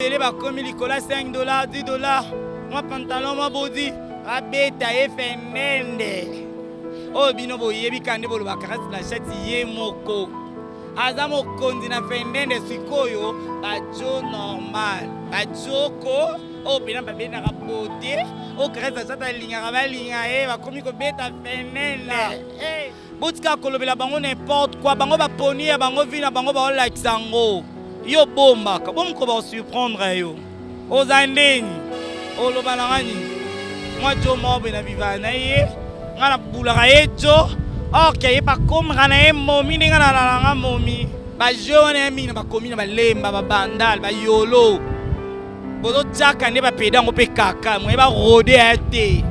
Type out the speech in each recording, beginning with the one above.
ebele bakomi likolo ya 5 dollar 10 dollar mwa pantalon mwa bodi babeta ye fenende oyo bino boyebi kande bolobaka kasi na shati ye moko aza mokonzi na fendende sikoyo bajo normal bajoko oyo mpena babendaka bote oyo karese azata alingaka balinga ye bakomi kobeta fendende Botika kolobela bango n'importe quoi, bango ba poni ya bango vie na bango ba like sango. Yo bomba, kabom ko ba surprendre yo. Oza ndeni. Oloba na ngani. Mwa jo mobe na viva na ye. Ngana bulaka ye jo. Or ke ye pa komra na ye momi ndenge na lala nga momi. Ba jeu wana ya mingi na bakomi na balemba, ba bandal, ba yolo. Bozo chaka nde ba pedango pe kaka, moye ba rode ya te.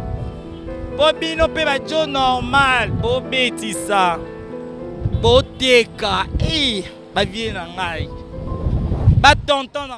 Po bino pe ba jo normal bo betisa bo teka eh ba vie na ngai ba tonton na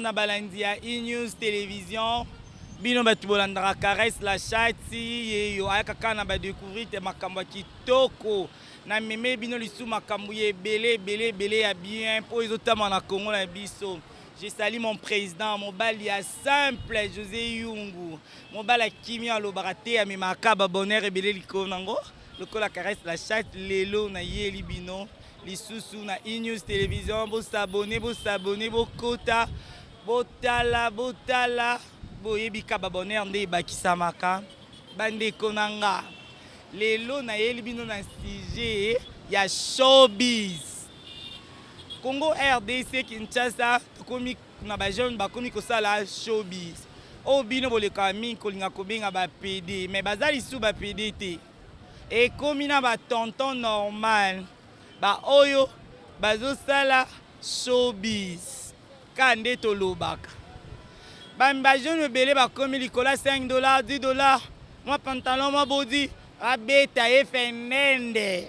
na balandi ya enews télévision bino bato bolandaka caresse la chati ye yo ayaka kaka na badecouvrir te makambo ya kitoko na meme bino lisusu makambo ya ebele ebele ebele ya bien mpo ezotama na congo na biso Je salis mon president mobali ya simple Jose Yungu mobali ya kimia alobaka te amemaka ba bonheur ebele likolo nango lokola caresse la chatte lelo na yeli bino lisusu na enews television bosabone bosabone bokota botala botala boyebika ba bonheur nde ebakisamaka bandeko na nga lelo nayeli bino na sujet ya showbiz Congo rdc Kinshasa tokomi na ba jeunes bakomi kosala showbiz oyo oh, bino bolekaka mingi kolinga kobenga ba PD mais baza lisusu ba PD te ekomi na ba tonton normal ba oyo bazosala showbiz ka nde tolobaka bami ba jeune ebele bakomi likolo ya 5 dollar 10 dollar mwa pantalon mwa bodi abeta ye fendende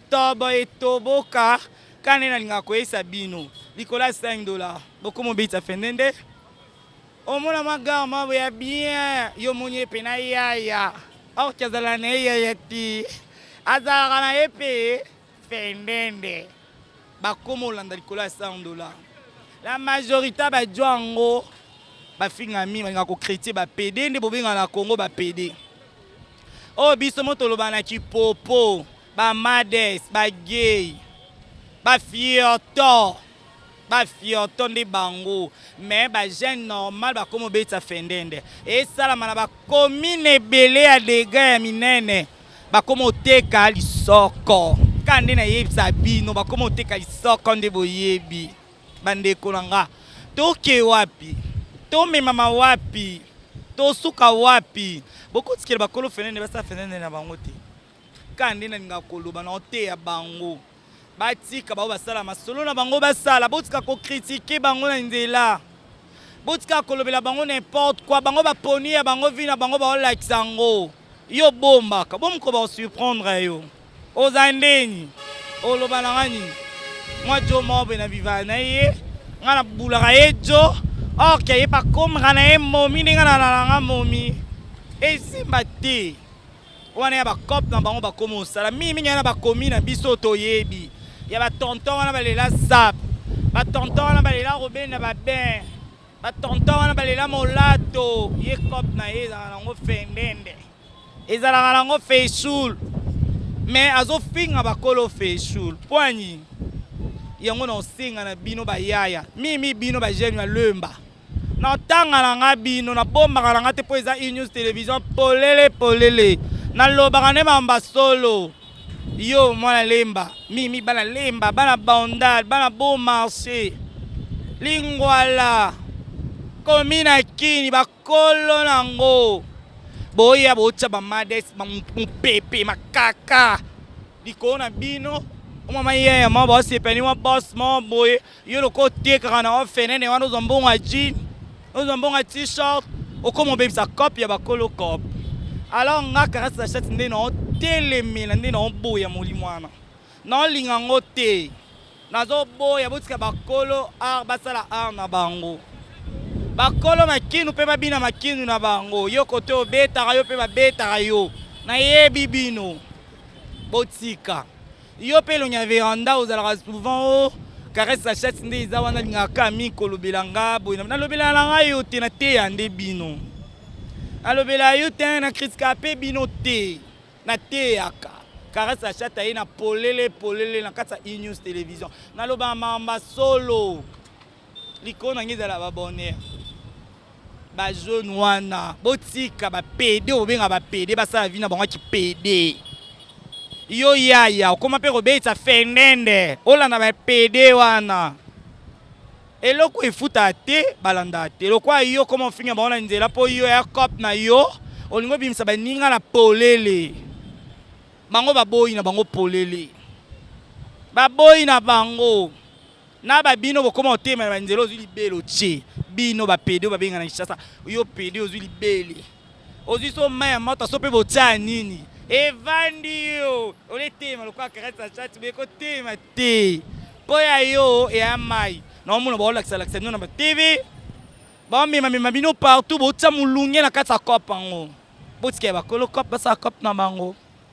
Tobo etoboka kaka nde nalingaka koyesa bino likolo ya 5 dola bokomi obetisa fende nde omona mwa gare mabo ya bien yo omoni ye mpe na yaya orke azala na ye yaya te azalaka na ye mpe fendende bakoma olanda likolo ya 100 dola la majorité bajwa yango bafinga mingi balinga kokritie bapede nde bobenga na congo bapede oyo oh, biso mo toloba na kipopo Ba mades, ba gay, ba fioto. ba fioto nde bango mais ba jeune normal bakoma obetisa fendende esalama na bakomine ebele ya dega ya minene bakoma oteka lisoko kaka nde nayebisa bino bakoma oteka lisoko nde boyebi bandeko na nga toke wapi tomemama wapi tosuka wapi bokotikela bakolo fendende basala fendende na bango te Kaka nde nalingaka koloba na oteya bango batika bango basala masolo na bango basala, botika kokritike bango na nzela, botika kolobela bango n'importe quoi. Bango baponi ya bango vi na bango baolakisa yango. Yo bombaka bomoko baosurprendre yo, oza ndeni oloba na nga nini? Mwa jo mobe na bivala na ye nga nabulaka ye jo orke aye pakomaka na ye momi ndenge nalalanga momi esimba te. wana ya ba cop na bango bakomi osala mingi mingi wana bakomi na biso toyebi ya ba tonton wana balela zap ba tonton wana balela robena ba ben ba tonton wana balela molato ye cop na ye ezalaka nango fendende ezalaka nango feshul mais azofinga bakolo feshul poani yango na osenga na bino bayaya mimi bino bajeune ya lemba na ntanga na nga bino na bombaka na nga te mpo eza enews television polele polele nalobaka nde mamba solo yo mwana lemba mimi bana lemba bana bandal bana beau marché lingwala komi na kini bakolo nango boya botya bamades mopepe makaka likolo na bino omama yeye mwa basepani mwa bos mwa boye Yo lokola otekaka na yo fenene wana ozwa mbongo ya jean, ozwa mbongo ya t-shirt, okoma obebisa cop ya bakolo cop. Alors nga Kara Sachette nde na otelemela nde na oboya molimo wana. Na olinga yango te. Nazoboya botika bakolo art basala art na bango. Bakolo makinu mpe babina makinu na bango. Yo kote obetaka yo mpe babetaka yo. Nayebi bino. Botika. Yo pe lonya veranda ozalaka souvent o oh, caresse sa chatte nde eza wana lingaka mi kolobela nga boye na lobela na nga yo te na teya nde bino. Na lobela yo te na kritika pe bino te. Na teyaka. Caresse sa chatte aye na polele polele na kati ya E-News Television. Na loba mamba solo. likolo na ngai ezala ba bonheur ba jeune wana botika ba pede obenga ba pede basala vie na bango kipede yo yaya okoma mpe kobetisa fendende olanda ba pede wana eloko efuta te balanda te lokola yo okoma ofinga bango na nzela mpo yo ya cop na yo olingi obimisa baninga na polele bango baboyi na bango polele baboyi na bango na ba bino bokoma otema na banzela ozwi libele otie bino bapede oyo babenga na kinshasa yo pede ozwi libele ozwi so mai ya moto so mpe botyaa nini evandi yo oletema lokola karati na chati boye kotema te mpo ya yo eya mai naomona baolakisalakisa bino na batv baomemamema bino partout botya molunge na kati ya cope yango botika ya bakolo cope basala cope na bango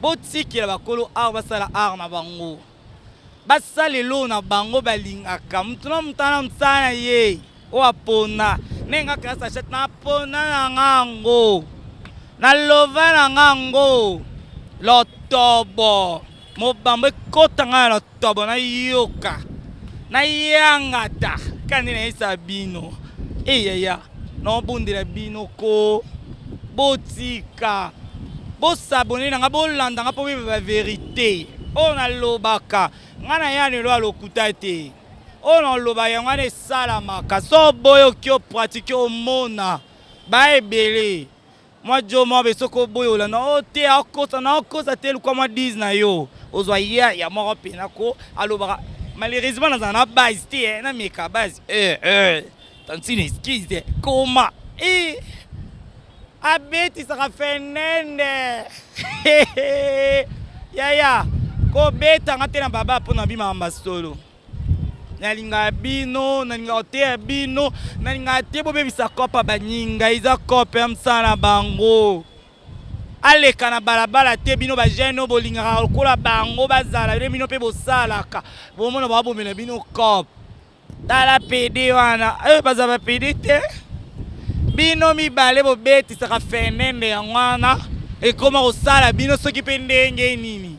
Botikela bakolo art basala art na bango, basala eloko na bango balingaka. Moto na moto ana mosala na ye oyo apona. Ndenge nga classe achete napona na nga yango, na lova na nga yango lotobo mobambo ekota nga na lotobo. Tobo na yoka na yangata kandi na yesa bino eyaya na obondela bino ko botika bosabone na nga bolanda nga mpo beba ba verite oyo oh, nalobaka nga na ya lelo ya lokuta te oyo oh, naloba yango wana esalamaka so oboyoki opratike omona baebele Mwa jo mwa be soko boyola na o te akosa na akosa te lukwa mwa 10 na yo ozwa ya ya moko pena ko alobaka malheureusement nazala na base te eh, na meka base eh eh tantine excuse eh, koma eh abetisaka fenende yaya kobetanga te na baba mpo na bimaka masolo nalingaka bino nalingaka koteya bino nalingaka te bobebisa kope ya baninga eza kope ya mosala na bango aleka na balabala te bino bajeune oyo bolingaka lokola bango bazala nde bino mpe bosalaka bomona babomela bino cope tala pede wana eh, baza bapede te bino mibale bobetisaka fenende yango wana ekoma kosala bino soki mpe ndenge nini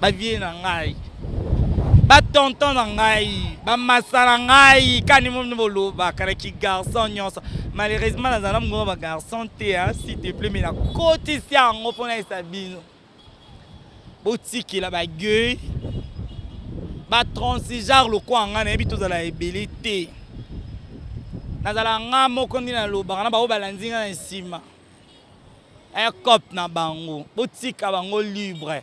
ba vie na ngai ba tonton na ngai ba masala ngai kani momi boloba kana ki garçon nyonso malheureusement nazala mongoma ba garçon te hein, s'il te plaît mais nakotisi yango mpo nayesa bino botikela bagueil batransigear lokola ngai nayebi tozala ebele te nazala ngai moko nde nalobaka na bango balandi ngai na nsima ecope na bango botika bango libre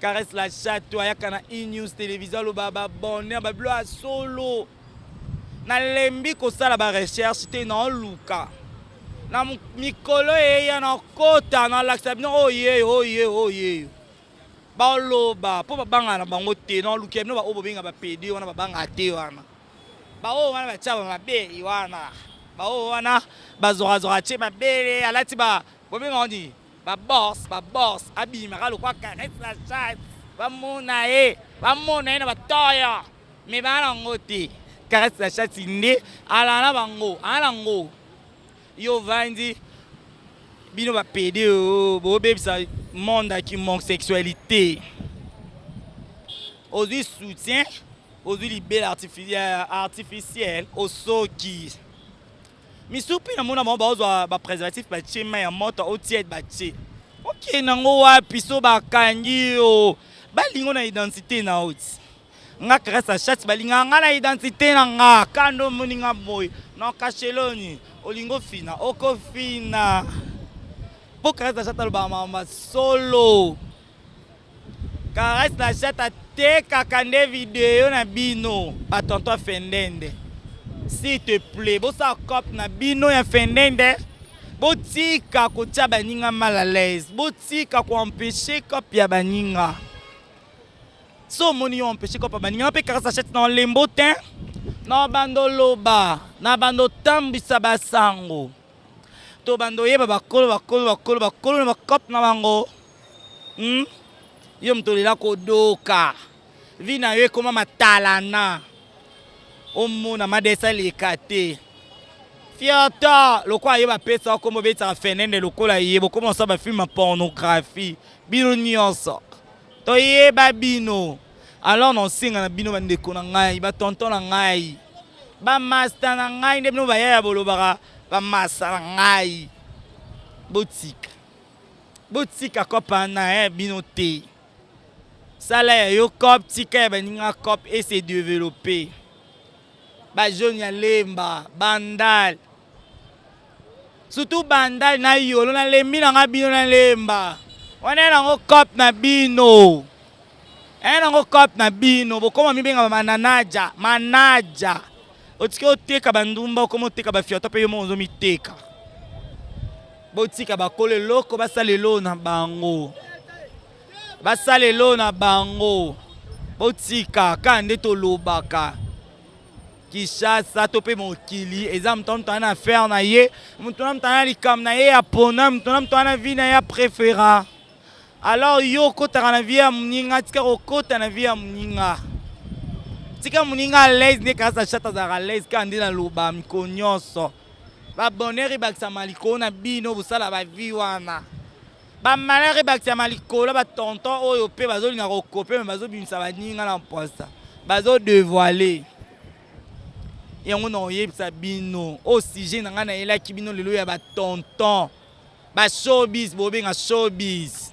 Caresse la chatte ayaka na E News Television aloba ba bonheur ba bilo ya solo. Nalembi kosala ba recherche te na oluka. Na mikolo eya na kota na lakisa bino oye oh, oye oh, oye. Oh, Baloba po babanga na bango te na oluki bino ba oyo bobenga ba PD wana babanga te wana. Ba oyo wana batia ba mabe wana. Ba oyo wana bazorazora tie mabele alati ba bobenga nini? Ba boss ba boss abima ka lokwa caresse la chatte ba mona ye ba mona ye na ba toyo mais ba na ngo te caresse la chatte nde ala na bango ala ngo yo vandi bino ba pede oh, bo bebisa monde ya kimonsexualité ozwi soutien ozwi libela artificiel osoki misupi na mona bango baozwa ba préservatif batie mai ya moto o tiède batie okei nango wapi so bakangi yo balingo na identité na yo ti nga grâce à chat balingaka nga na identité na nga kanda omoni nga boye na kasheloni olingi ofina okofina mpo grâce à chat alobaka mama solo Caresse na Jata tekaka nde video na bino ba tonton ya Fendende. S'il te plaît, bosala cop na bino ya Fendende. Botika kotia baninga mal à l'aise. Botika ko empêcher cop ya baninga. So omoni yo empêcher cop ya baninga mpe Caresse na Jata na olembo te. Na bando loba, na bando tambwisa basango. To bando yeba bakolo bakolo bakolo bakolo na ba cop na bango. Hmm? Yo moto olela kodoka. Vie na yo ekoma matalana. Omona madesa leka te. Fiata lokola ye bapesa yo kombo obetaka fenende lokola ye bokoma osala bafilme ya pornographie bino nyonso toyeba bino alors naosenga na bino bandeko na ngai batonton na ngai bamasta na ngai nde bino bayaya bolobaka bamasa na ngai botika Botika cop wana ya bino te. Sala ya yo cop, tika ya baninga cop et se développer. Ba jeunes ya Lemba, Bandal. Surtout Bandal na Yolo na lembi na nga bino na Lemba. Wana ya nango cop na bino. Ya nango cop na bino. Bokoma mibenga mananaja, manaja. Otiki oteka bandumba, okoma oteka ba fiota pe yo moko ozo miteka. Botika bakolo eloko basala eloo na bango, basala eloo na bango, botika kaka nde tolobaka Kinshasa to mpe mokili eza moto na moto ana affaire na ye, moto na moto ana likambo na ye ya pona, moto na moto ana vie na ye ya prefera. Alors yo okotaka na vie ya moninga, tika kokota na vie ya moninga, tika moninga alaise nde kaka Sachata azalaka alaise kaka nde naloba mikolo nyonso Ba bonheur ebakisama likolo na bino bosala ba vie wana. Ba malheur ebakisama likolo ba tonton oyo pe bazolinga kokope me bazobimisa baninga na mposa bazo devoile yango na oyebisa bino o sujet na ngai nayelaki bino lelo ya ba tonton ba showbiz bobenga showbiz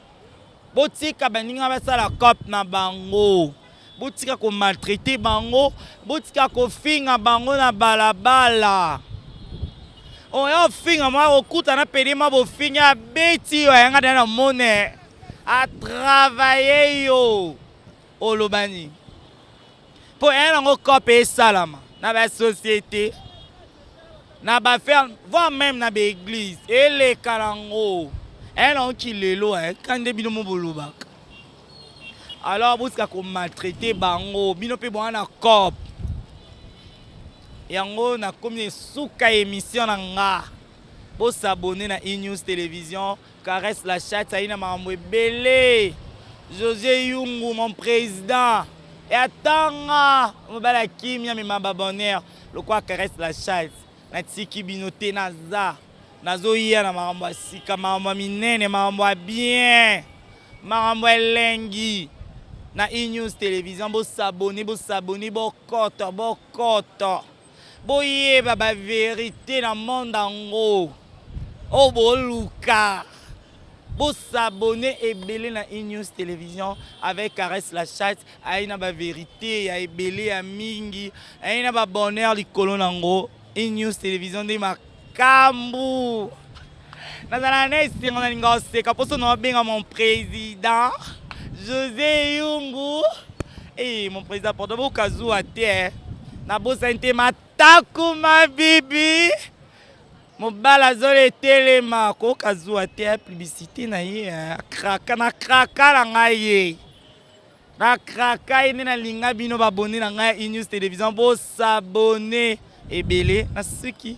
botika baninga basala cop na bango botika komaltraite bango botika kofinga bango na balabala oyo oh, ofinga mwa kokuta na pede mwa bofingi abeti yo ayanga na mone atravaille yo olobani Mpo eye nango cope esalama na ba société na ba ferme voire meme na ba église eleka nango eye nango kilelo eh, kande bino mo bolobaka alors botika komaltraite bango bino mpe boa na cop yango nakomi esuka emission na nga bosabone na enews télévision Caresse la chatte ayi na makambo ebele. José Yungu mon président. Et atanga mobala ya kimia mema ba bonheur lokwa caresse la chatte. Natiki bino te naza. Nazoya na makambo ya sika, makambo ya minene, makambo ya bien. Makambo elengi. Na E-News Television bo s'abonner, bo s'abonner, bo koto, bo koto. Boyeba ba verite na monde yango oyo oh, boluka bo s'abonner ebele na Inews Television avec Caresse la chatte ayi na ba verite ya ebele ya mingi ayi na ba bonheur likolo nango Inews Television nde Kambu. Nazala na esengo na linga oseka poso na obenga mon président José Yungu. Eh mon président pardon bokazuwa te. Eh. Nabosani te mataku ma bibi. mobali azolo etelema koyoka zuwa te ya publicité na ye eh. akraka na kraka na ngai ye Na craka ye nde na linga bino ba abonne na ngai ya Inews Television bo s'abonner ebele na suki.